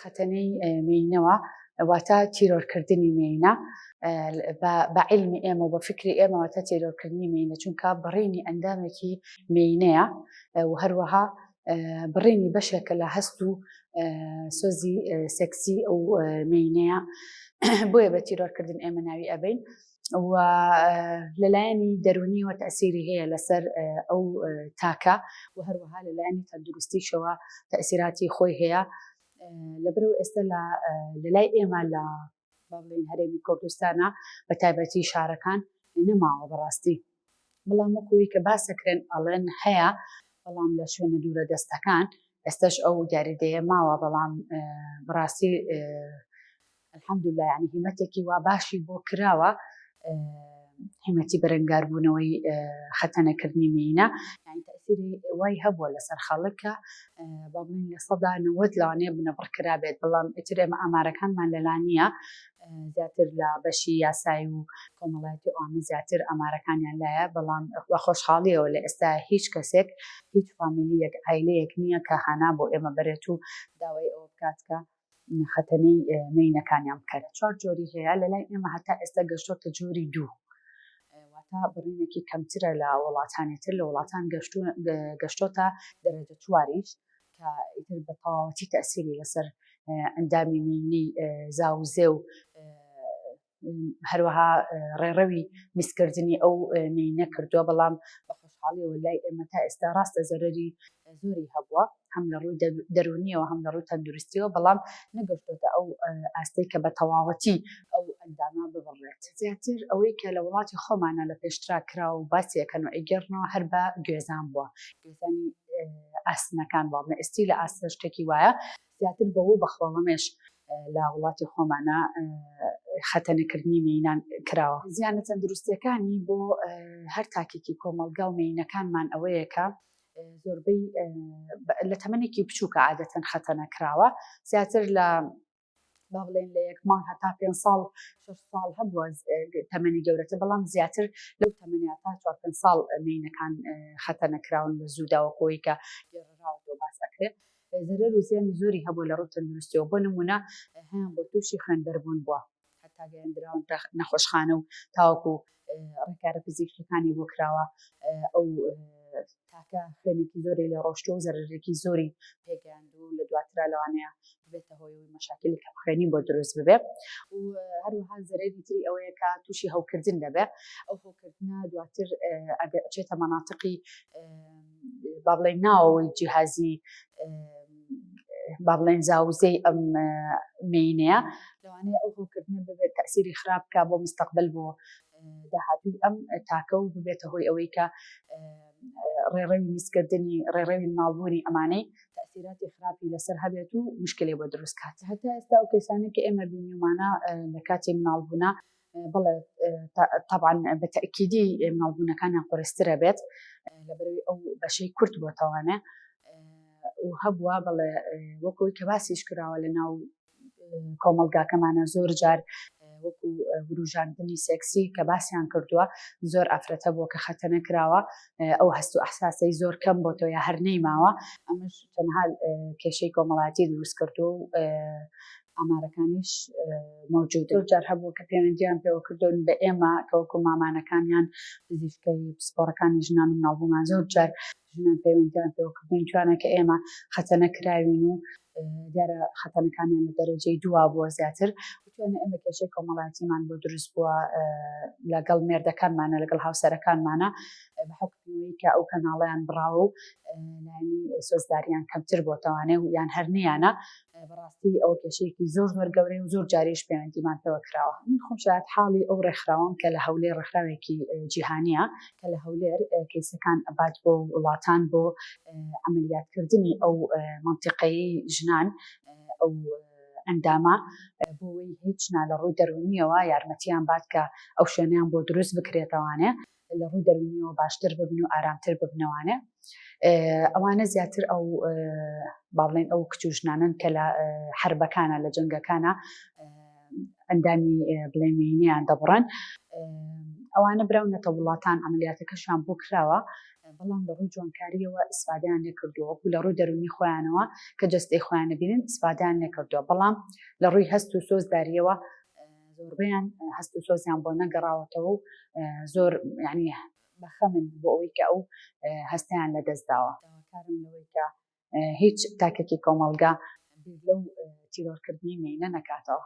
خەتەنەی مێینەوە واتە تیرۆرکردنی مێینە بە عیلمی ئێمە و بە فکری ئێمەوە تا تیرۆرکردنی مێینە چونکە بڕینی ئەندامێکی مێینەیە و هەروەها بڕینی بەشێکە لە هەست و سۆزی سەکسی ئەو مێینەیە بۆیە بە تیرۆرکردن ئێمە ناوی ئەبین و لەلایەنی دەرونیەوە تەسیری هەیە لەسەر ئەو تاکە و هەروەها لەلایەنی تەندروستیشەوە تەسیراتی خۆی هەیە لەبرو ئێستا لەلای ئێمە لە بەڵێن هەرێمی کوردستانە بە تایبەتی شارەکان نەماوە بەڕاستی بەڵام وەکو وی کە باسەکرێن ئەڵێن هەیە بەڵام لە شوێنە دوورە دەستەکان ئێستەش ئەو دیاریدەیە ماوە بەڵام بەڕاستی الحمدللە یعنی هیمەتێکی وا باشی بۆ کراوە هیمەتی بەرەنگاربوونەوەی خەتەنەکردنی مینە یعنی تەسیری وای هەبووە لەسەر خەڵکە بەڵین لە سەدا نەوەت لەوانەیە بنەبڕکرابێت بەڵام ئیتر ئێمە ئامارەکانمان لەلا نییە زیاتر لە بەشی یاسایی و کۆمەڵایەتی ئەوانە زیاتر ئامارەکانیان لایە بەڵام بە خۆشحاڵیەوە لە ئێستا هیچ کەسێک هیچ فامیلیەک عایلەیەک نیە کە هانا بۆ ئێمە بەرێت و داوای ئەوە بکات کە خەتەنەی مێینەکانیان بکەن. چوار جۆری هەیە لە لای ئێمە هەتا ئێستا گەشتۆتە جۆری دوو واتا بڕینێکی کەمترە لە وڵاتانی تر لە وڵاتان گەشتۆتە دەرەجە چواریش. کە ئیتر بە تەواوەتی تەئسیری لەسەر ئەندامی میینی زاوزێ و هەروەها ڕێڕەوی میزکردنی ئەو میینە کردووە، بەڵام بە خۆشحاڵیەوە لای ئێمە تا ئێستا ڕاستە زەرەری زۆری هەبووە هەم لە ڕووی دەروونیەوە هەم لە ڕووی تەندروستیەوە، بەڵام نەگەشتۆتە ئەو ئاستەی کە بە تەواوەتی ئەو ئەندامە ببڕرێت. زیاتر ئەوەی کە لە وڵاتی خۆمانە لە پێشترا کرا و باسی ئەکەن و ئەیگێڕنەوە هەر بە گوێزان بووە، گوێزانی ئاسنەکان واڵنە ئستی لە ئاستە شتێکی وایە زیاتر بەوە بەخۆڵەمێش لە وڵاتی خۆمانە خەتەنەکردنی مینان کراوە زیانە تەندروستەکانی بۆ هەر تاکێکی کۆمەلگا و مینەکانمان ئەوەیەکە زۆربەی لە تەمەێکی بچووکە عادەتەن خەتەنە کراوە زیاتر لە با بڵێن لە یەک مانگ هەتا پێنج ساڵ شەش ساڵ هەبووە تەمەنی گەورەتر بەڵام زیاتر لەو تەمەنیا تا چوار پێنج ساڵ مێینەکان خەتە نەکراون لە زوو داوەکەوەی کە گێڕراوەوە باس ئەکرێت زەرەر و زیانی زۆری هەبوو لە ڕوو تەندروستیەوە بۆ نمونە هەیان بۆ تووشی خوێنبەربوون بووە هەتا گەیاندراون نەخۆشخانە و تاوەکو ڕێکارە پزیشکەکانی بۆ کراوە ئەو تاکە خوێنێکی زۆری لێ ڕۆشتووە و زەرەرێکی زۆری پێ گەیاندووە و لە دواترا لەوانەیە ببێتە هۆی ئەوەی مەشاکیلی کەمخوێنی بۆ دروست ببێت و هەروەها زەرەری تری ئەوەیە کە تووشی هەوکردن دەبێت ئەو هەوکردنە دواتر ئەگەر ئەچێتە مەناتقی با بڵێن ناوەوەی جیهازی با بڵێن زاوزەی ئەم مینەیە لەوانەیە ئەو هەوکردنە ببێت تەسیری خراپکە بۆ مستەقبل بۆ داهاتووی ئەم تاکە و ببێتە هۆی ئەوەی کە ڕێڕەوی میزکردنی ڕێڕەوی ماڵبوونی ئەمانەی تەئسیراتی خراپی لەسەر هەبێت و مشکلەی بۆ دروست کات هەتا ئێستا ئەو کەیسانەی کە ئێمە بینیومانە لە کاتی مناڵبوونە بەڵێ تەبعەن بە تەئکیدی مناڵبوونەکانیان قورسترە بێت لەبەرەوەی ئەو بەشەی کورت بۆتەوانێ و هەبووە بەڵێ وەکۆی کە باسیش کراوە لە ناو کۆمەڵگاکەمانە زۆر جار وەکو وروژاندنی سێکسی کە باسیان کردووە زۆر ئافرەتە بووە کە خەتەنە کراوە ئەو هەست و ئەحساسەی زۆر کەم بۆ تۆ یا هەر نەیماوە ئەمەش تەنها کێشەی کۆمەڵایەتی دروست کردو و ئامارەکانیش مەوجود زۆر جار هەبوو کە پەیوەندیان پێوە کردوون بە ئێمە کەوەکو مامانەکانیان پزیشکەی پسپۆڕەکانی ژنان و مناڵبوومان زۆر جار ژنان پەیوەندیان پێوە کردوین چوانە کە ئێمە خەتەنە کراوین و دیارە خەتەنەکانیان لە دەرەجەی دووا بووە زیاتر وتوانە ئێمە کێشەی کۆمەڵاتیمان بۆ دروست بووە لەگەڵ مێردەکانمانە لەگەڵ هاوسەرەکانمانە بە حکومی کە ئەو کەناڵیان بڕاوە و لانی سۆزداریان کەمتر بۆ تەوانێ و یان هەرنیانە بەڕاستی ئەوە کێشەیەکی زۆر زۆر گەورەیە و زۆر جاریش پەیوەندی مان پێوە کراوە من خۆم شایەت حاڵی ئەو ڕێکخراوەم کە لە هەولێر ڕێکخراوێکی جیهانیە کە لە هەولێر کەیسەکان ئەبات بۆ وڵاتان بۆ عەمەلیات کردنی ئەو مەنتیقەیەی ژنان ئەو ئەندامە بۆی هیچ نا لە ڕووی دەروونیەوە یارمەتیان بات کە ئەو شوێنیان بۆ دروست بکرێتەوانێ لە ڕووی دەروونیەوە باشتر ببن و ئارامتر ببنەوانە ئەوانە زیاتر ئەو با بڵێن ئەو کچ و ژنانن کە لە حربەکانە لە جەنگەکانە ئەندامی بڵێمینیان دەبڕن ئەوانە براونەتە وڵاتان ئەملیاتەکەشان بۆ کراوە بەڵام لە ڕووی جوانکاریەوە ئیسفادیان نەکردووە و لە ڕووی دەرونی خۆیانەوە کە جستەی خۆیانە بینن ئیسفادیان نەکردووە بەڵام لە ڕووی هەست و سۆزداریەوە زۆربەیان هەست و سۆزیان بۆ نەگەڕاوەتەوە و زۆر یانی بە خەمن بۆ ئەوەی کە ئەو هەستیان لە دەست داوە. داواکارم لەوەی کە هیچ تاکێکی کۆمەڵگا بیر لەو تیرۆرکردنەی مێینە نەکاتەوە.